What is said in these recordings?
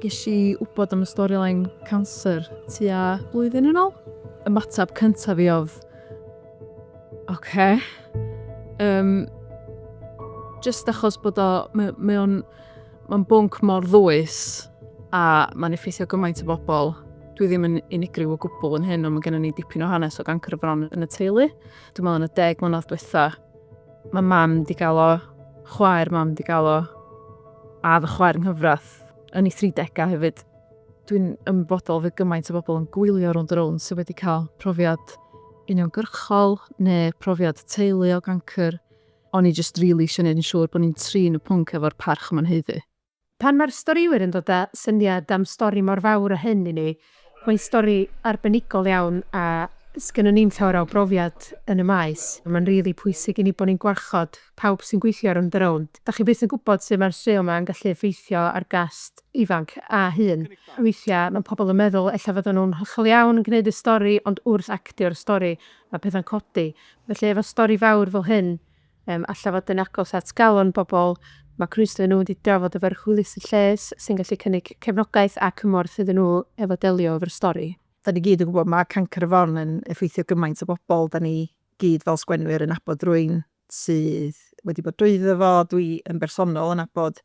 Ges i wybod am y storyline cancer tua blwyddyn yn ôl. Ymateb cyntaf fi oedd, oce. Yym, jyst achos bod o, mae, mae o'n, mae'n bwnc mor ddwys a mae'n effeithio gymaint o bobl. Dwi ddim yn unigryw o gwbl yn hyn, ond mae gennym ni dipyn o hanes o gancr y fron yn y teulu. Dwi'n meddwl yn y deg mlynedd diwetha, Mae mam di gael o, chwaer mam di gael o, a fy chwaer nghyfrath yn ei 30au hefyd. Dwi'n ymwybodol fy gymaint o bobl yn gwylio rownd yr own sydd wedi cael profiad uniongyrchol neu profiad teulu o gancr. O'n i jyst rili eisiau gwneud yn siŵr bod ni'n trin y pwnc efo'r parch mae'n haeddu. Pan mae'r storïwyr yn dod â syniad am stori mor fawr â hyn i ni, mae'n stori arbenigol iawn a 'sgynnon ni'm llawer o brofiad yn y maes. Mae'n rili pwysig i ni bod ni'n gwarchod pawb sy'n gweithio rownd a rownd. Dach chi byth yn gwybod sut mae'r straeon 'ma yn gallu effeithio ar gast ifanc a hŷn. Weithiau mae pobl yn meddwl ella fyddan nhw'n hollol iawn yn gwneud y stori ond wrth actio'r stori mae pethau'n codi. Felly efo stori fawr fel hyn Yym, alla fod yn agos at galon bobl. Mae Crwysle nhw wedi drafod efo'r hwylus y lles sy'n gallu cynnig cefnogaeth a cymorth iddyn nhw efo delio efo'r stori. Da ni gyd yn gwybod mae cancr y fron yn effeithio gymaint o bobl, da ni gyd fel sgwennwyr yn abod rwy'n sydd wedi bod drwyddo fo, dwi yn bersonol yn abod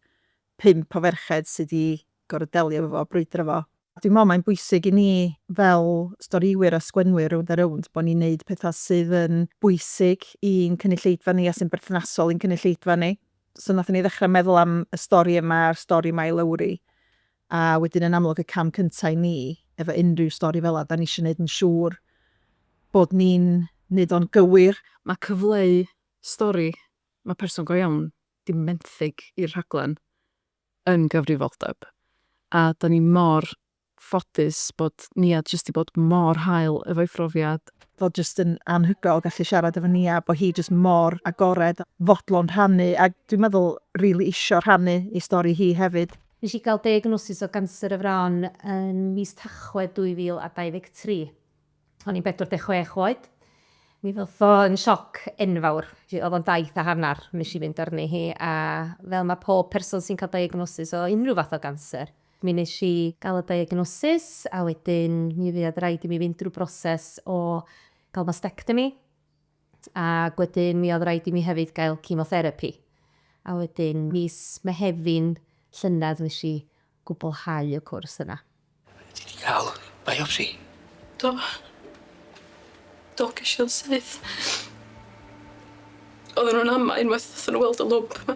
pump o ferched sydd wedi gorfod delio efo fo, brwydro fo. Dwi'n meddwl mae'n bwysig i ni fel storïwyr a sgwennwyr rownd a rownd bod ni'n neud pethau sydd yn bwysig i'n cynulleidfa ni a sy'n berthnasol i'n cynulleidfa ni. So nathon ni ddechrau meddwl am y stori yma a'r stori yma i Lowri a wedyn yn amlwg y cam cynta i ni efo unrhyw stori fel 'na 'dan ni isio neud yn siŵr bod ni'n neud o'n gywir. Mae cyfleu stori, mae person go iawn 'di menthyg i'r rhaglen. yn gyfrifoldeb a dan ni mor ffodus bod Nia jyst di bod mor hael efo'i phrofiad. Fod jyst yn anhygoel gallu siarad efo Nia, bod hi jyst mor agored, fodlon rhannu a dwi'n meddwl rili isio rhannu ei stori hi hefyd. Nes i gael diagnosis o ganser y fron yn mis Tachwedd 2023. O'n i'n 46 oed. Mi ddoth o yn sioc enfawr. Oedd o'n daith a hanner wnes i fynd arni hi a fel mae pob person sy'n cael diagnosis o unrhyw fath o ganser, mi wnes i gael y diagnosis a wedyn mi fuodd raid i mi fynd drwy broses o gael mastectomy, ac wedyn mi oedd raid i mi hefyd gael cemotherapi. A wedyn mis Mehefin llynedd nes i gwblhau y cwrs yna. Ti 'di ca'l biopsi? Do. Do gesh i o'n syth. Odden nw'n ama unwaith nathon nw weld y lwmp 'ma.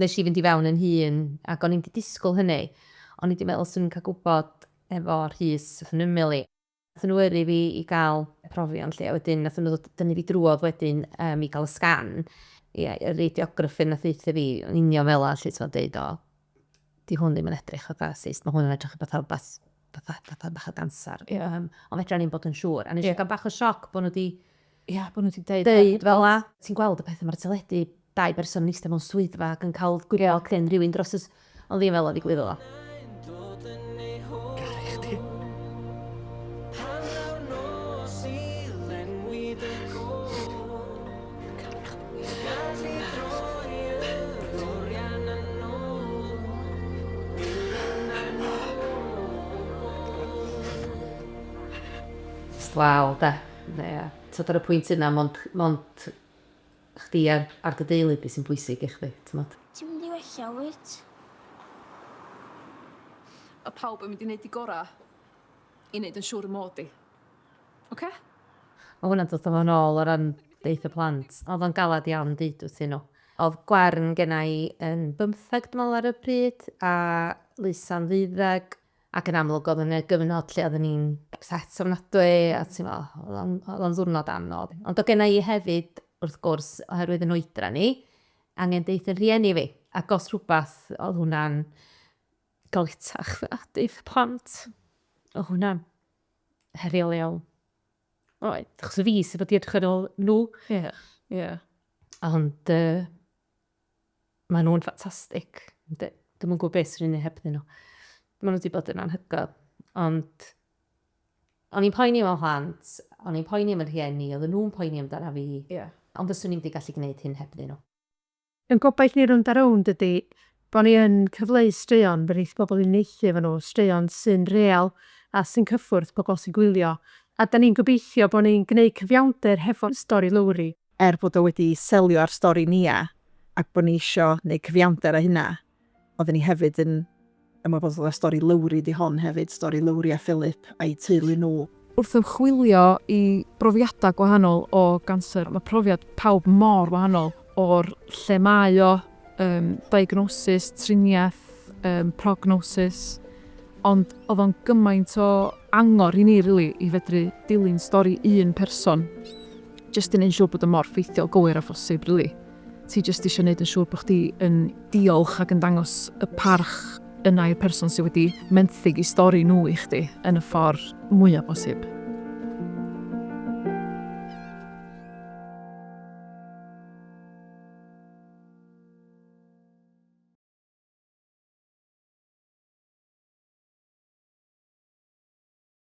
Nes i fynd i fewn yn hun ac o'n i'n di disgwl hynny, o'n i di meddwl swn i'n cael gwybod efo Rhys wrth yn ymyl i. Nathon nhw yrru fi i ga'l y profion 'lly a wedyn nathon nhw ddod dynnu fi drwodd wedyn yym i ga'l y sgan, ie y radiograffyr nath ddeutha fi yn union fela 'lly t'mod deud o 'di hwn ddim yn edrych fatha cyst, ma' hwn yn edrych fatha rwbath, fatha, fatha bach o ganser. Ie. Yym, ond fedra ni'm bod yn siŵr. A nes i ga'l bach o sioc bo' nw 'di... Ia, bo' nw 'di deud... Deud fel 'a. Ti'n gweld y petha ma'r teledu, dau berson yn ista mewn swyddfa ag yn ca'l gwybod cyn rywun dros y s-. Ond ddim fel 'a ddigwyddodd o. Caru chdi. Hannar nos i lenwi dy gôr. Jyst waw 'de? Ie. T'od ar y pwynt yna mond mond chdi a a dy deulu di sy'n bwysig i chdi, t'mod? Ti'n mynd i wella wyt? Mae pawb yn mynd i neud 'u gora i neud yn siŵr y mod i. Ocê? Mae hwnna'n dod â fo nôl o ran deutha plant. Oedd o'n galed iawn deud wrthyn nhw. Oedd Gwern genna i yn bymtheg dwi'n meddwl ar y pryd a Lisa'n ddeuddeg ac yn amlwg oedd yna gyfnod lle oedden ni'n ypset ofnadwy a ti'n meddwl oedd o'n ddiwrnod anodd. Ond oedd genna i hefyd wrth gwrs oherwydd yn oedran i angen deud wrth fy rhieni fi ac os rhywbeth oedd hwnna'n galetach na deud wrth y plant. Oedd hwnna'n heriol iawn. Oedd. Achos y fi sydd wedi edrych yn ôl nhw. Ie, yeah, ie. Yeah. Ond uh, maen nhw'n ffantastig. Dwi'n mwyn gwybod beth sy'n ei heb nhw. Maen nhw wedi bod yn anhygoel. Ond o'n i'n poeni mewn hlant, o'n i'n poeni am yr hieni, oedd nhw'n poeni amdana fi. Yeah. Ond fyswn i'n wedi gallu gwneud hyn heb nhw. Yn gobaith ni rownd a rownd ydi bo ni yn cyfleu straeon fe neith pobl uniaethu efo nhw, straeon sy'n real a sy'n cyffwrdd pobl sy'n gwylio, a 'dan ni'n gobeithio bo ni'n gneud cyfiawnder hefo stori Lowri, er bod o wedi selio ar stori Nia ac bo ni isio neud cyfiawnder â hynna, Oedden ni hefyd yn ymwybodol o'r stori Lowri, 'di hon hefyd, stori Lowri a Philip a'u teulu nhw. Wrth ymchwilio i brofiadau gwahanol o ganser, mae profiad pawb mor wahanol, o'r lle mae o, yym, diagnosis, triniaeth, yym, prognosis, ond oedd o'n gymaint o angor i ni rili i fedru dilyn stori un person, jyst i wneud yn siŵr bod o mor ffeithiol, gywir a phosib rili. Ti jyst eisiau gwneud yn siŵr bod chdi yn diolch ac yn dangos y parch yna i'r person sydd wedi menthyg eu stori nhw i chdi yn y ffordd mwyaf posib.